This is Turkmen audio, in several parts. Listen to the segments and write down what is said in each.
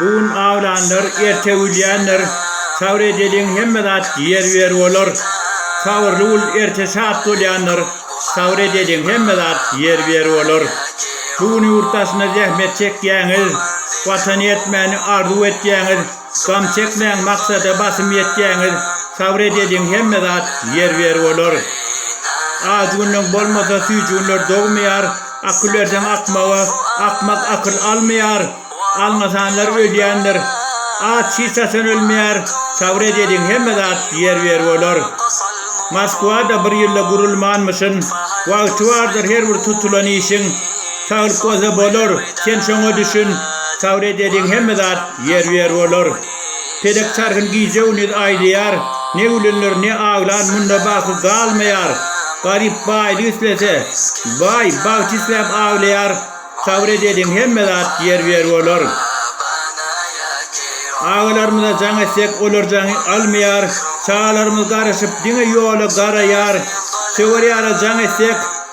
Bu gün awlanlar, erte ölýändir. Sabyr edeliň, hemme zat ýerbiýer bolar. Sabyrly bul, erte şat bolýandyr. Sabyr edeliň, hemme zat ýerbiýer bolar. Bu gün ýurt daşynda zähmet çekýäňiz. Watany etmäni arzuw etýäňiz. Gam çekmäň, maksada basym ýetýäňiz. Sabyr edeliň, hemme zat ýerbiýer bolar. Ajy günleň bolmasa, süýji günler dogmaýar. Akyl erden akmaga, akmak akyl almaýar. Alňasanlar ölýändir. Aç hiç haçan ölmeýär. Sabyr et ediň hemme zat ýer ber bolar. Moskwada bir ýylda gurulmanmyşyn. Wagty bardyr her bir tutulan işiň. Saglyk bolsa bolar. Sen şoňa düşün. Sabyr et ediň hemme zat ýer ber bolar. Pelek çarhyn gije-gündiz aýlaýar, Ne gülenler, ne aglan munda bagtsyz galmaýar. Garyp baýlyk islese, baý, bagt isläp aglaýar, Sabyr edeliň, hemme zat ýerbe-ýer bolar. Agalarymyza jaň etsek, olar jaň almaýar, Çagalarymyz garaşyp, diňe ýola garaýar. Söwer ýara jaň etsek.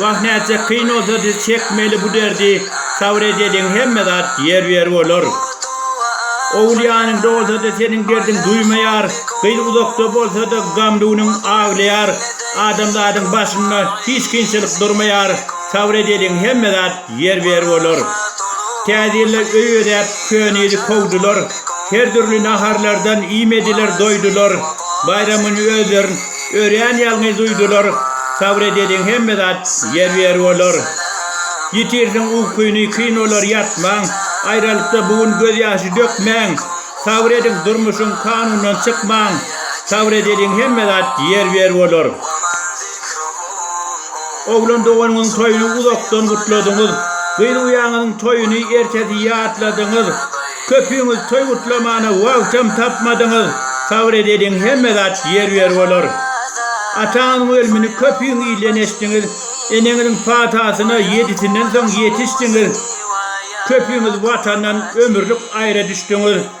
Wah nätjek kyn bolsa diz çekmeli bu derdi sabr edeliň hemme zat ýer ýer bolar Ogul ýanyňda bolsada seniň derdiň duýmaýar gyz uzakda bolsada gamly günüň aglaýar adamzadyň başynda hiç kynçylyk durmaýar sabr edeliň hemme zat Ýer berip olar. Täze ýylda öý bezäp, köne ýyly kowdular. Her dürli naharlardan iýmediler, doýdular. Baýramyň özlerin örän ýalňyz duýdular. Sabyr edeliň, hemme zat ýer berip olar. Ýitirsiň ukyny, kyn olar, ýatmaň. Aýralykda bu gün gözýaşy dökmäň. Sabyr ediň, durmuşyň kanundan çykmaň. Sabyr edeliň, hemme zat ýer berip olar. Oglan doganyňyň toýuny uzakdan gutladyňyz. Gyz uýaňyzyň toýuny ertesi ýatladyňyz. Köpüňiz toý gutlamana wagtam tapmadyňyz. Sabyr edeliň, hemme zat ýerbiýer bolar. Ataňyzyň ölmini köpüň ilden eşdiňiz. Eneňiziň patasyna ýedisinden soň ýetişdiňiz. Köpüňiz Watandan ömürlik aýra düşdüňiz.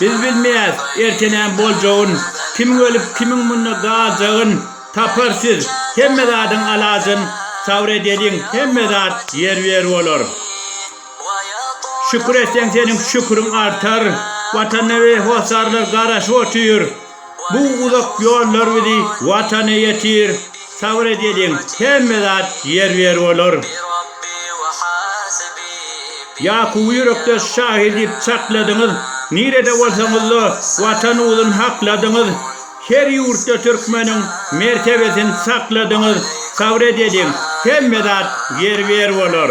Biz bilmeýäs, erte näme boljagyn, kimiň ölüp, kimiň munda galjagyn. Tapar siz, hemme zadyň alajyn, Sabr edeliň, hemme zat ýerbiýer bolar. Şükür etseň, seniň şüküriň artar, Watanda we hossarlar garaşyp otyr. Bu uzak ýollar bizi Watana ýetir, Sabyr edeliň, hemme zat ýerbiýer bolar. Ýakuby ýürekdeş şahyr diýip çakladyňyz, Nirede bolsaňyzda Watan uzyn hakladyňyz. Her ýurtda türkmeniň mertebesin sakladyňyz, Sabyr edeliň, hemme zat ýerbiýer bolar.